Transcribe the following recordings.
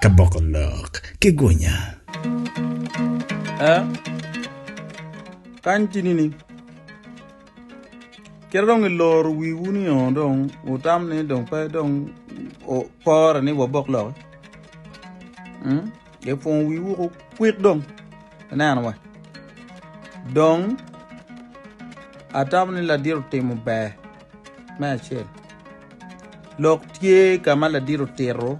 Ka boko lok ki gunya. Eh, kany tye nining? Kit dong iloro wiwu ni o dong wutam ni dong pe dong pore ni wabok lok hmm? ipwongo wiwu ko kwik dong ineno wa dong atam ni ladit otimo ber Me acel, lok tye ka ma ladit otito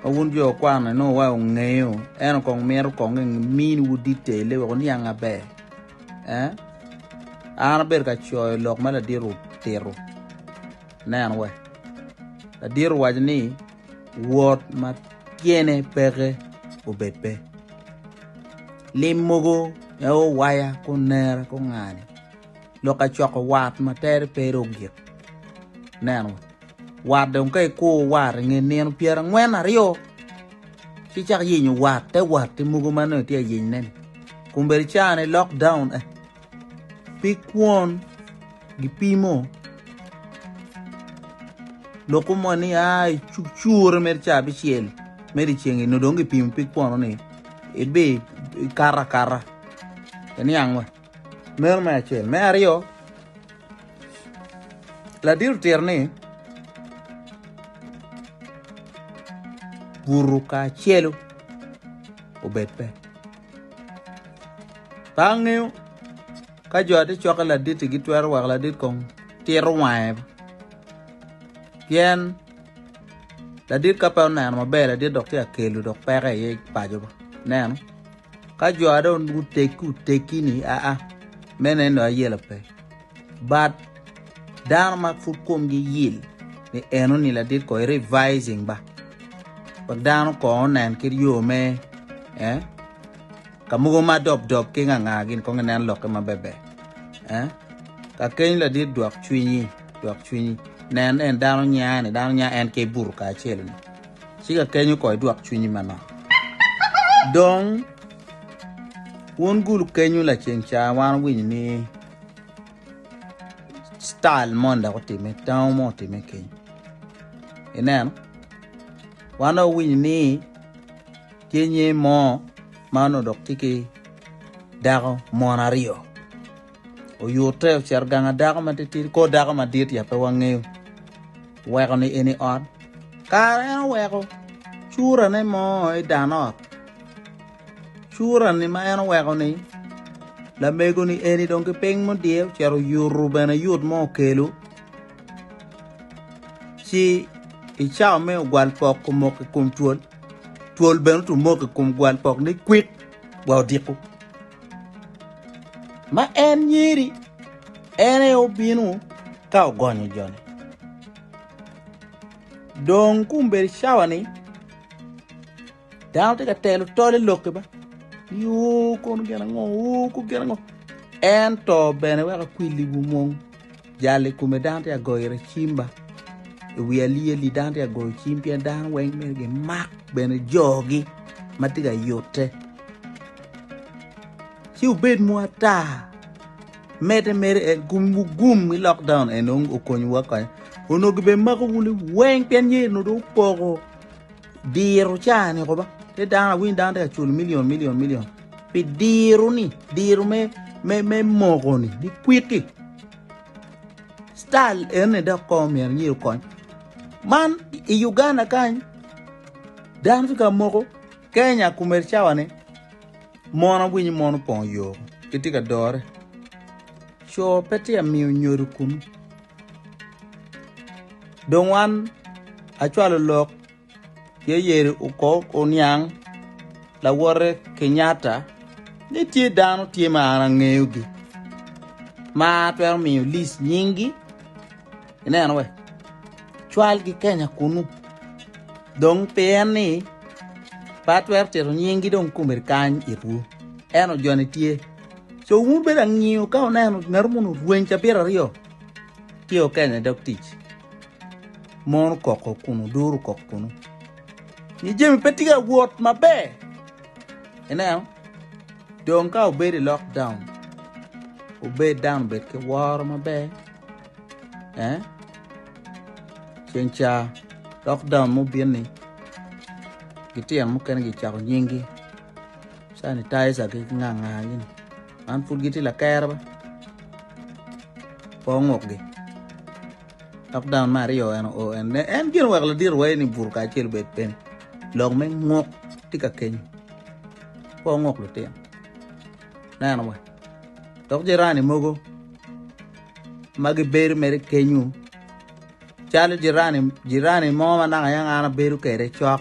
ma wun jo okwano inongo wa ongeyo, ento kong mito kong eminiwu ditelle wek wuniang maber. Eh? An abedo ka coyo lok ma ladit otito. Nen we. Ladit owaco ni wot ma tyene peke obed pe. Lim mogo en owaya kunera kungani. lok acoko wat ma tere pe ero ogik neno wat dong ka ikuru wat inge nino pyera ngwen aryo ci cak yenyo wat te wat te mogo ma nongo itye ayeny neni kun bedi cani lockdown eh pi kwon gipimo loko mo ni a cure mere ca bicel mere ceng ino dong gipimo pi kwono ni ibi ikara kara eniang wa Meno me acel. Me aryo, ladit otito ni buru kacelu obed pe. Ka angeyo ka jo ati cokke laditti gitwero weko ladit kong tito wange pien ladit ka pe oneno maber ladit dok tye ka kelo dok peke iye paco neno. Ka jo a dong guteggi oteggi ni aa me neno ayela pe but dano ma pud komgi yil ni eno ni ladit ko i revising ba wek dano ko onen ki yo me eh ka mogo ma dob dob ki nganga gin kong inen lokke ma bebe eh ka keny ladit dwok cwinyi dwok cwinyi nen en dano nya ni dano nya en ke buru kacel ni Ci kakeny oko i dwok cwinyi manok. Dong wun gulu kenyu laceng ca wan owinyo ni style moni dok otime, tango mo otime keny. Ineno? Wan dong owinyo ni tye nye mo ma onodok tye ki dako mon aryo. oyute ocito gang adako ma titidi kor dako madit ya pe wangeyo weko ni eni ot kara en oweko curane mo i dan ot curani ma en oweko ni lamego ni eni dong ki piny mudye ocito yutu bene yut mo okelo ci i cawa me ogwal pok omoko i kom twol twol bene otu moko i kom gwal pok ni kwik wa odiko Ma en nyeri, en aye obino ka ogonyo jone. Dong kun bedo cawa ni dano tye ka telo tol i lokke ba ni o kono gin ango o kono gin ango ento bene weko akwilliwu mung. Jal i kome dano tye ka goyo ira cimba i wi alyeli dano tye ka goyo cim pien dano weng myero gimak bene jogi ma tye ka yute ci obed mu ata mede mede en gum gum ki lockdown en onongo okonyowa kony onongo gibemako wunu weng pien yeyi onongo dong opoko Diro caa ni koba te dano awiny dano te ka cul milion milion milion pi diro ni diro me me me moko ni ni kwiti style en ni dok ko mi anyi kony man i Uganda kany dano te ka moko Kenya kumer cawa ne mon awiny mon opong yo kiti ka dore co pe te amiyo nyodo kunu Dong wan acwalo lok ye yeri okok oniang lawote Kenyatta ni tye dano tye ma an angeyogi ma atwero miyo lis nyinggi ineno we cwalgi Kenya kunu dong pi en ni pe atwero tito nyinggi dong komedi kany itwu eno joni tye Co wun bedo angiyo ka wuneno ngat munu rweny cabit aryo ci okenye dog tic mon okoko kun oduro kok kunu ni jami pe tye ka wot maber ineno dong ka obedo i lockdown obed dano obed ki woro maber eh ceng ca lockdown mubin ni litino mukene gicako nyingi. Sanitizer ki nganga gini man pud gitye lakere ba po nguk gi lock down me aryo eno o en ne en gin wek ladit wa eni buto ka acel obed piny lok me nguk tye ka kenyo po nguk lutino neno wa dok jirani mogo ma gibedo mere kenyo calo jirani mo ma naka yaka an abedo kwede cok.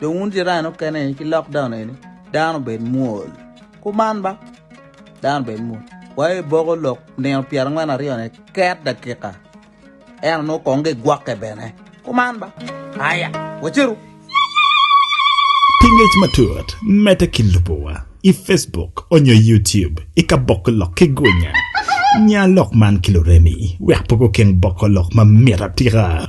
dong wun jirani okene eni ki lockdown eni dano bed mwol kuman ba dano bed mwol wa i boko lok nino pyerangwen aryo ne ket dakika eno nongo kong gigwokke bene kuman ba aya waceru Pi ngec matut, medde ki lubo wa i Facebook onyo YouTube i ka boko lok ki gwinya. Nya lok man ki luremi wek poko keng boko lok ma mit atika.